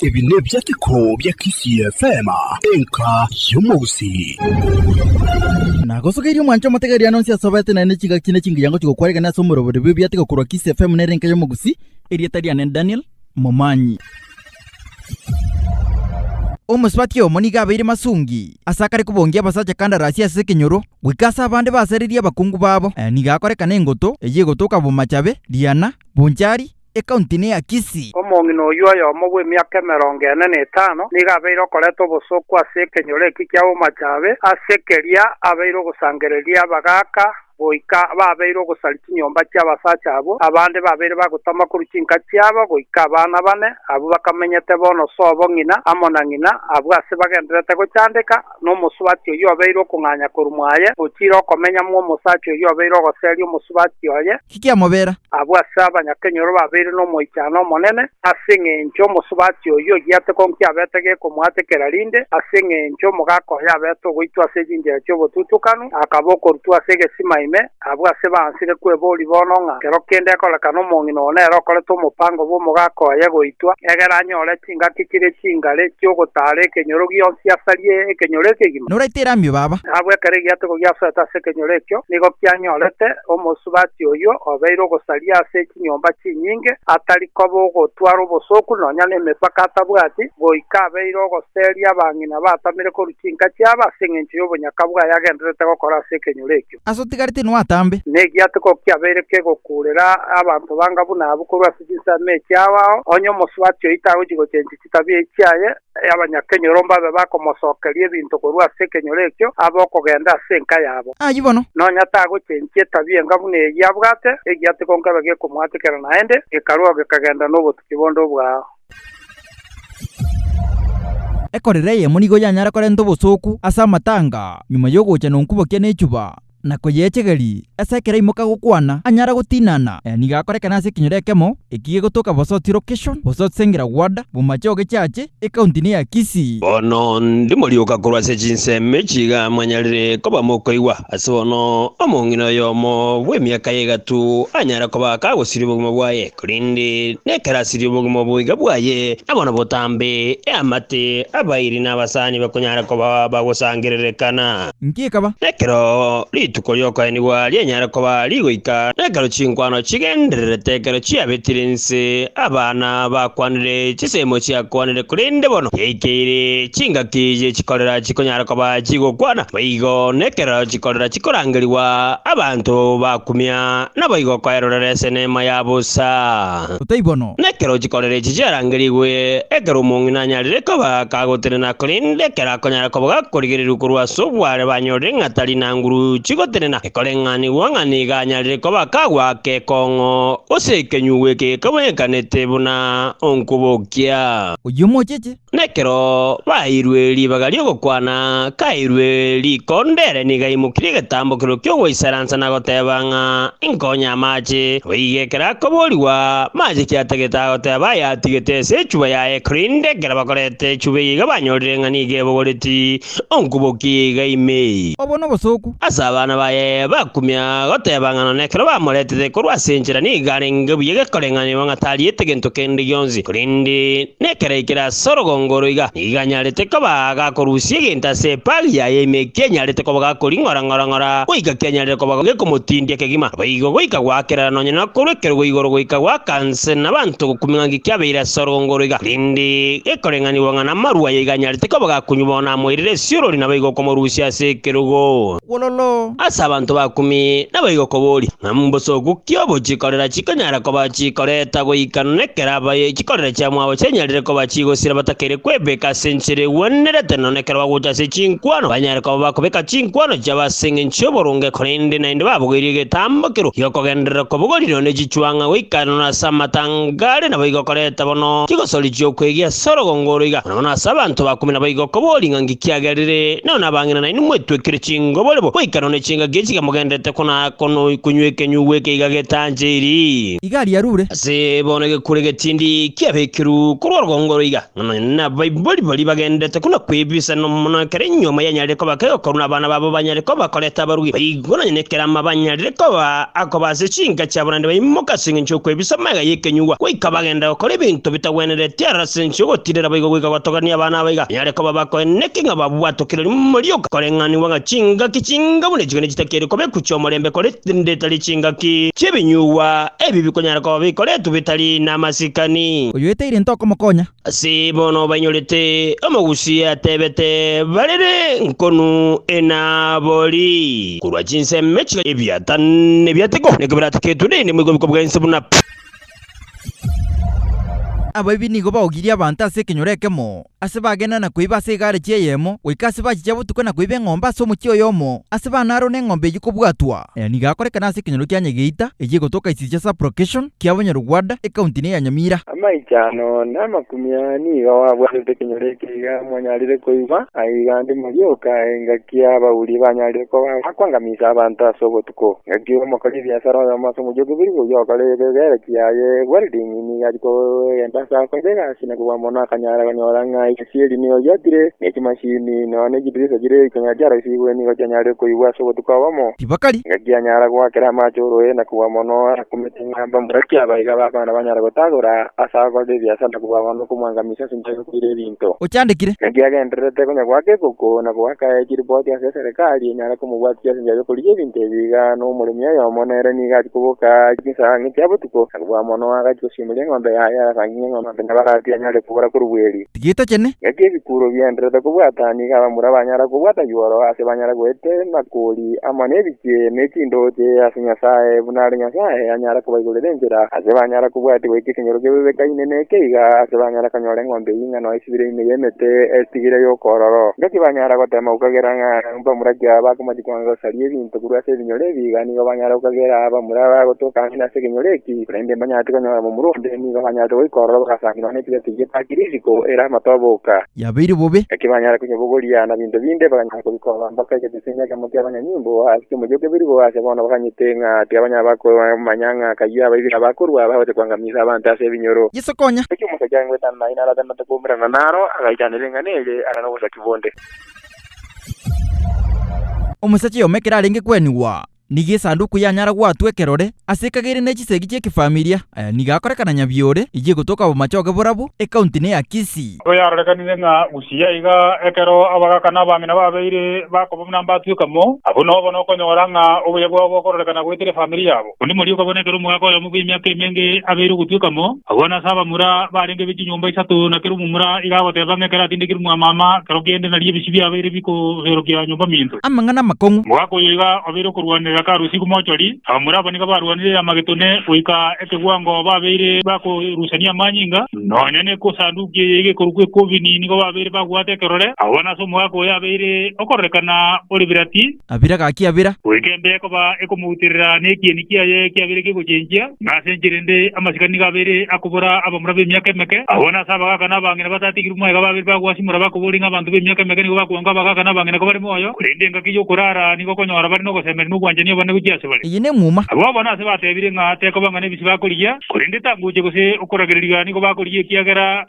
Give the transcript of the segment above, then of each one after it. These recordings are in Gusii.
Ebi nebiateko bia Kisii FM, enka y'omogusii. Nagosogeirie omwancho omotegeeri ano onsi asobete naende chigaki ne chingiyango chigokwara igana ase omorobori bw'ebiateko korwa Kisii FM nere enka y'omogusii. Erieta riane Daniel. momanyi. Omosubati oyomo nigo abeire masungi ase akare kobongia abasacha kandarasi ase ekenyoro, goika ase abande basererie abakungu babo. Nigo akoreka nengoto eye egotoka Bomachabe, Diana, Bonchari, ekaunti ne ya Kisii. Omong'ina oyio oyomo bw'emiaka emerongo ene na etano nigo abeire okoreta obosooku ase ekenyoro eki kia Bomachabe, ase keria abeire ogosangereria abagaaka goika babeire ogosaria chinyomba chi'abasacha abwo, abande babeire bagotama korwa chinka chiabo, goika abana bane abwo bakamenyete bono sobo ng'ina amo na ng'ina, abwo ase bagendererete gochandeka, nomosubati oyio obeire okong'anya korwa mwaye, ochire okomenya mw'omosacha oyio obeire ogoseria omosubati oye. Ki kiamobera? abwo ase abanyakenyoro babeire nomoichano omonene, ase engencho omosubati oyio ogiate konki abete gekomoatekera rinde, ase engencho omogaka oye abete ogoitwa ase chinchera chi'obotutukanu, akaba okorutwa ase egesima ime, abwo ase baansire kwebori bono ng'a kero kende ekorekana omong'ina oo nere okorete omopango bw'omogaka oye goitwa, egere anyore Ingatikirie chingare chi'ogotaara ekenyoro gionsi asarie ekenyoro ekegima. Noraetere amio, baba. Nabwo ekero egiatego giasoete ase ekenyoro ekio, nigo kianyorete omosubati oyio obeire ogosaria ase chinyomba chinyinge, atari koba ogotwara obosooku nonya nemepaka atabwati, goika abeire ogoseria abang'ina batamire korwa chinka chiabo ase engencho y'obonyaka bwaye agendererete gokora ase ekenyoro ekio. ase otigare tinwe atambe. Negiatogo kiabeire kegokuurera abanto banga buna abwo korwa ase chinsemo echio abao, onye omosubati oyio tagochi gochenchia chitabia echi chiaye, abanyakenyoro mbabe bakomosokeria ebinto korwa ase ekenyoro ekio, abe okogenda ase enka yabo. Ayio bono. Nonya tagochenchia etabia enga buna eyio abwate, egiatogo nkebe gekomoatekera naende, gekarua gekagenda nobotuki bonde obwao. Ekorero eyemo nigo yanyare korenta obosooku ase amatanga nyuma y'ogocha nonkubokia nechuba na koyeechegeria. Ase ekero aimoka gokwana, anyare gotinana. Aya nigo akorekana ase ekenyoro ekemo eki gegotoka Bosoti Location, Bosoti Sengira Ward, Bomache Ogechache, Ekaunti ne ya Kisii. Bono ndimorioka korwa ase chinsemo echi iga mwanyarire koba mokoigwa. Ase bono omong'ina oyomo bw'emiaka ya egatu anyare koba akagosiria obogima bwaye. Korende nekerasi y'obogima oboiga bwaye, na bono botambe eamate abairi na abasani bakonyara koba bagosangererekana. Inki ekaba? Nekero rituko ri'okoenigwa rienyare koba rigoika, nekero chinkwano chigendererete, ekero chiabetire inse, abana bakwanire, chisemo chiakwanire, korende bono chiaikeire chingaki ye chikorera chikonyara koba chigokwana. Boigo nekero chikorera chikorangerigwa, abanto bakumia Naboigo okoerorera ase eneema ya bosa. Otaibono. Na ekero chikoro echi chiarangerigwe, ekero omong'ina anyarire koba kagotenena korende ekero akonyara koba gakorigereria korwa ase obware banyorire ng'a tari na nguru chigotenena, ekoreng'anigwa ng'a nigo anyarire koba kagwa ake ekong'o, gose ekenyugwa eke gekabonyekanete buna onkobokia. Oyio omocheche. Na ekero baeirwe ribaga ri'ogokwana, kaeirwe rikonda ere nigo aimokirie egetambokero ki'ogoisaransa na goteeba ng'a, Inkonye amaache. Goika ekero akoboorigwa maache ki atagete agoteba ayatigete ase echuba yaye, korende ekero bakorete echuba eyio iga banyorire ng'a nigo ebogoreti. onkubokiga ime. Obo nobosooku. Ase abana baye bakumia goteba ng'a nonya ekero bamoretete korwa ase enchera nigo arenge buya gekoreng'anigwa ng'a tariete gento kende gionsi, korende nekero aikire ase orogongo oro iga, nigo anyarete koba agakorusia egento ase epaagi yaye ime ekianyarete koba gakoring'ora ng'ora-ng'ora goika kianyarire koba gekomotindia kegima. Naboigo goika goakerera nonya na korwa ekerwa igoro goika goaka nse nabanto gokumia ng'a nki kiabeire ase orogongo oro iga, korende gekoreng'anigwa ng'a Amarwa aye iganyarete koba gakunywa bono amoirire esiorori nabo igokomorusia ase ekerogo. Wololo! Ase abanto bakumi nabo igokoboria, ng'a mbosoku ki obo chikorera chikonyara koba chikoreta goika nekero abaye chikorera chia mwabo chianyarire koba chigosira batakeire kwebeka ase enchera egwenerete nono nekero bagocha ase chinkwano banyare koba bakobeka chinkwano chiabo ase engencho y'oboronge korende naende babogoirie egetambo kerwo giokogenderera kobogorirwa ne chichwang'a goika nono ase amatanga are nabo igokoreta bono chigosori chi'okwegia ase Ase orogongo oro iga, nonya ase abanto bakume naboigo, kobori ng'a nki kiagerire, nonya nabang'ina nainwe mwetwekire chingoborebo, goika nonya chingaki echi iga mogenderete konaa kono konywa ekenyugwa eke iga getanchiri. Iga riarure. Ase bono egekure getindi kiabekirwe korwa orogongo oro iga, ng'a nonya nabaibori baria bagenderete kona kwebiisa, nonya mono ekero enyiomo yanyare koba kegokorwa nabana babo banyare koba bakorete abarugi, baigo. Bono onye nekerama banyarire koba akoba ase chinka chia barwani baimok ase engencho y'okwebisa amaiga y'ekenyugwa, goika bagenda gokora ebinto bitagwenereti ara ase ense y'ogotiirera boigo goika gotogania abana abaiga, banyare koba bakoeneki ng'a babwate okirori momorioka, koreng'anigwa ng'a chingaki chinga buna echiko nechitakeire koba ekuchia omorembe korende tari chingaki chi'ebinyugwa ebi bikonyara koba bikoretwe bitari namasikani. Oyoetaire ntokomokonya, Ase bono bainyorete omogusi atebete barere nkonu enabori korwa chinseme chiga ebiata nebiateko niko birateketwe rende moigwe obiko bw'ense buna Abaibia nigo baogirie abanto ase ekenyoro ekemo, ase bagenda na koiba ase egareji eyemo goika ase bachicha botuko na koiba eng'ombe ase omochie oyomo ase bana aro neng'ombe eyio kobwatwa. Aya nigo akorekana ase ekenyoro kia Nyegeita, eyio egotoka esisi ya Sub-location kia Bunyarugwanda, ecounty-eye ya Nyamira. Amaicho ano namakumia nigo abwanete ekenyoro eke iga mwanyarire koigwa, aiga ndimori oka engaki y'abauri banyarire koba bakwangamisa abanto ase obotuko. Ngaki omokori ebiasara oyomo ase omochie okobirirwa oyio okore egegereki yaye welding nigo achia kogenda ase akoira egasi na kobua mono akanyara konyora ng'ai. Sieri nigo giatire, ne chimasini, nonya ne chidirisa chire ikonya chiaroisigwe nigo chianyarire koigwa ase obotuko obomo. Tibakari. Engaki yanyara goakera amaache oroe na kogwa mono arakumete ng'a mbamura ki aba iga b'abana banyare gotagora ase agokorera ebiasara na kobua abanto okomwangamisia ase enchera y'okoira ebinto. Ochandekire. Naki agendererete konya goaka ekoko na goaka aye chiripoti ase eserekari enyare komobwatisia ase enchera y'okorigia ebinto ebi iga, na omoremi oyomo nere nigo achia koboka chinsa ang'e chia botuko, Kobua mono agachia gosimuria eng'ombe yaye, agakang'ia eng'ombe ande nabarati anyare kobora korwa bweri. Tigeita chene. Ngaki ebikuro bienderete kobwata, nigo abamura banyara kobwata yuoro, ase banyara goetera nakori amo nebichie, ne chindooche, ase Nyasae, buna are Nyasae anyara kobaigorera enchera, ase banyara kobwati goika ekenyoro kebebe kaine ne ekeiga, ase banyara konyora eng'ombe y'ing'ana oesibire ime y'emete, esitigire y'okoororo. Ngaki banyara gotema gokagera ng'a. Abamura kiao bakomanya kwanga gosaria ebinto korwa ase ebinyoro ebi, iga nigo banyare gokagera abamura bagotoka ang'e nase ekenyoro eki, korende mbanyareti konyora momura onde, nigo banyarete goika ororo bagasangerwa nekibe eki getaakire isiko, ere amato aboka. Yabeire bobe. Naki banyare konyabogoria na binto binde, bakanyara kobika obamba kare gete ase egeakemo ki'abanyanyimbo, ase chiomochie okebeirwe oo ase bono baganyete ng'a tibanyara bakomanya ng'a kayio abaibi na bakorua bagocha koangamisa abanto ase ebinyoro. Yeso konya. Naki omosacha aye ngoetana naye naratenate koumerana naro, agaitanera eng'ana eye, are nobosaki bonde. Omosacha oyomo ekero arenge kwenigwa, nigo esanduku yanyara gwatwa ekerore, ase ekagere ne chisegi chi'ekefamilia. Aya nigo akorekana Nyabiore, eyio egotoka Obomachoge Borabu, ekaunti ne ya Kisii. Nabo yarorekanire ng'a gusii aiga ekero abagaka na abang'ina babeire bakoba buna mbatweka mo, abwo nobono okonyora ng'a obuya bwabo bokororekana goetera efamiri yabo. Onde moria okabona ekero omogaka oyomo bw'emiaka emenge abeire ogotweka mo, agwo nase abamura barenge be chinyomba isato, na kera omomura iga agoteba ng'a ekero atindekirwe mwamama, kero kende nari ebisio biabo biabeire bikoberokia nyomba minto. Amang'ana amakong'u. Omogaka oyo iga obeire okorwanerera karosigwe mochori, abamura abo nigo barwanire Armagetone goika ekegwango babeire bakorusania amanyinga, nonya n'Esanduki eye iga ekorokwa Ekobini nigo babeire babwate ekerore, agwo nase omogaka oyo abeire okororeka na Oliberati. Abira gaki abira. Goika embe ekoba ekomouterera na ekieni kiaye kiabire kigochenchia, na ase enchera ende amasika nigo abeire akobora abamura b'emiaka emeke. Agwo nase abagaaka na abang'ina batatigirwe moyo iga babeire bagoasimora bakoboria ng'a abanto b'emiaka emeke nigo bakoigwa ng'a abagaaka na abang'ina ko bari moyo, korende engaki y'okoraara nigo okonyora bare nogosemeria na obwanchani obonene gochia ase bare. Eye nemuma. Abwo abana ase batebire ng'a tekoba ng'a nebisi bakorigia, korende etanguche gose okoragereria nigo bakorigia ekiagera.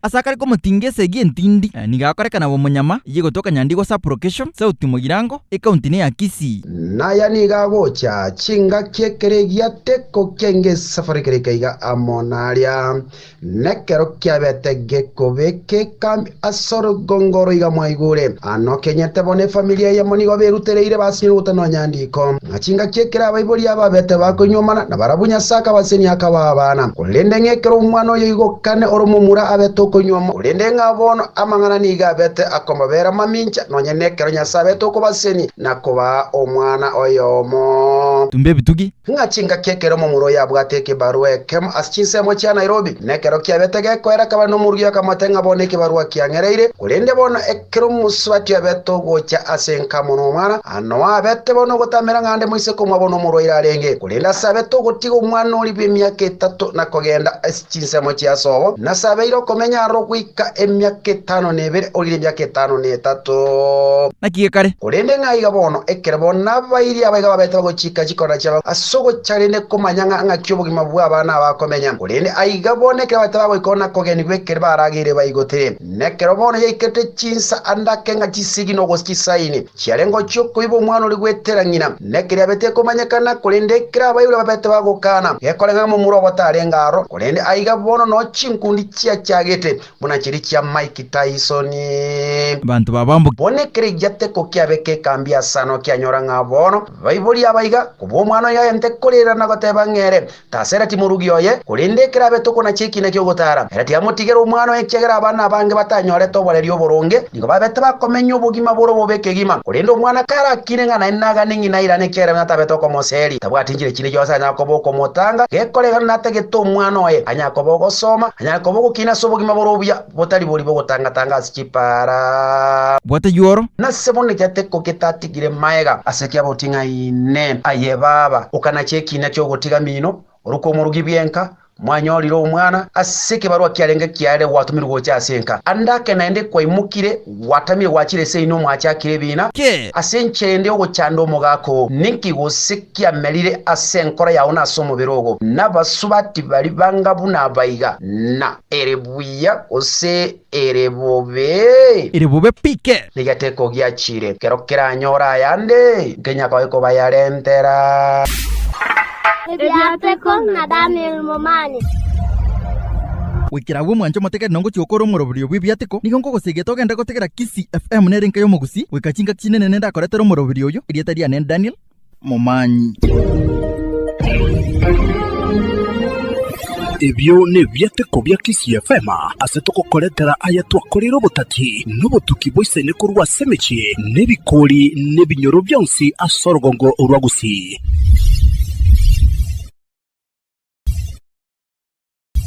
Ase akare komotinga esegi entindi, nigo akorekana bw'omonyama, eyio egotoka Nyandigwa Sub-Location, Sauti Mogirango, ecounty ne ya Kisii. Naya nigo agocha chingaki ekero egiateko ki'engesafari kerika iga amo naria, nekero kiabete gekobeka ekambi ase orugongo oro iga mwaigure anokenyete bono efamiri eyemo nigo berutereire basinye nogotenwa nyandiko. ng'a chingaki ekero abaibori ababete bakoinyuomana, na barabwo Nyasae akabasenia akabaa abana, korende ng'a ekero omwana oyoigokane ore momura abete okoinyuoma, korende ng'a bono amang'ana nigo abete akomobeera mamincha, nonya nekero Nyasae abete okobasenia na kobaa omwana oyomo. Tumba ebitugi. Ng'a chingaki ekero momura oyo abwate ekebarua ekemo ase chinsemo chia Nairobi, nekero kiabete gekoera akabana omoruia akamotebia ng'a bono ekebarua kiang'ereire, korende bono Ekero omosubati abete ogocha ase enkamo nomwana, anoe abete bono ogotamera ng'a nde moise komwa bono omorwaire arenge, korende ase abete ogotiga omwana oria bw'emiaka etato na kogenda ase chinsemo chia sobo, nase abeire okomenya aroro goika emiaka etano na ebere orire emiaka etano na etato. Naki gekare? Korende ng'a iga bono, ekero bo nabairie abaiga babete bagochika chikona chiabo ase ogocha rende komanya ng'a ng'aki obogima bw'abana aba akomenya, korende aiga bono ekero babete bagoika oo na kogenigwa ekeri barageire baigotire. Nekero bono yaikete chinsa ande ake ng'a chisegi nogosa chisaini, chiare ngochia okoiba omwana oria gwetera ng'ina, nekeria abe tekomanyekana, korende ekero abaibori babete bagokana, gekoreka ng'a momura obo tarenge aro. Korende aiga bono noo chinkundi chiachagete, buna chiria chia Mike Tyson. Abanto babamboki. Bono ekero egiate ko kiabe kekambi ase ano kianyora ng'a bono baibori abaiga, kobua omwana oyo agente korera na goteba ng'a ere Tasera timorugi oye, korende ekero abetokwa na chiekina ki'ogotaara, ere tiamotigera omwana oye, ekiagera abana abange batanyorete oborerio oboronge, nigo babete bakomenya obogima bore obobe kegima. Korende omwana karakine ng'a naende nagane ng'ina airane ekiagera ng'a tabete okomoseria, tabwati nchire chinde chionsi anyare koba okomotanga, gekoregana natagete omwana oye, anyare koba ogosoma, anyare koba ogokina ase obogima bore obuya. Botaribori bogotanga-tanga ase chipaara. Bwate yuoro. Nase bono egete ko getatigire maega. Ase ki aboting'aine? Aye baba, okanachia ekiina ki'ogotiga mino, orwe kw'omorugi bw'enka, mwanyorire omwana, ase ekebarwa kiarenge kiarire gwatomirwe gocha ase enka. Ande ake naende kwaimokire, gwatamire gwachire ase inwe mwachakire ebiina. Ki? Ase enchera ende y'ogochanda omogaka oo, ninki gose kiamerire ase enkoro yao na ase omobere ogo? Nabasubati baria banga buna abaiga, na. Ere buya gose ere bobe? Ere bobe pike. Niga tekogiachire. Kero keranyore ayande, nkenya koe kobayarentera. Ebiateko na Daniel Momani. Goikera agwo mwanche omotegete na ngochia gokora omoroberio bw'ebiateko, nigo nkogosegeta ogende gotegera Kisii FM nere enka y'omogusii, goika chingaki chinene nende akoretera omoroberio oyio, erieta riane Daniel, momanyi. Ebio nebiateko bia KCFM ase togokoretera aya twakoreire obotati na obotuki boisaine korwa ase emechie na ebikori na ebinyoro bionsi ase orogongo rwa Gusii.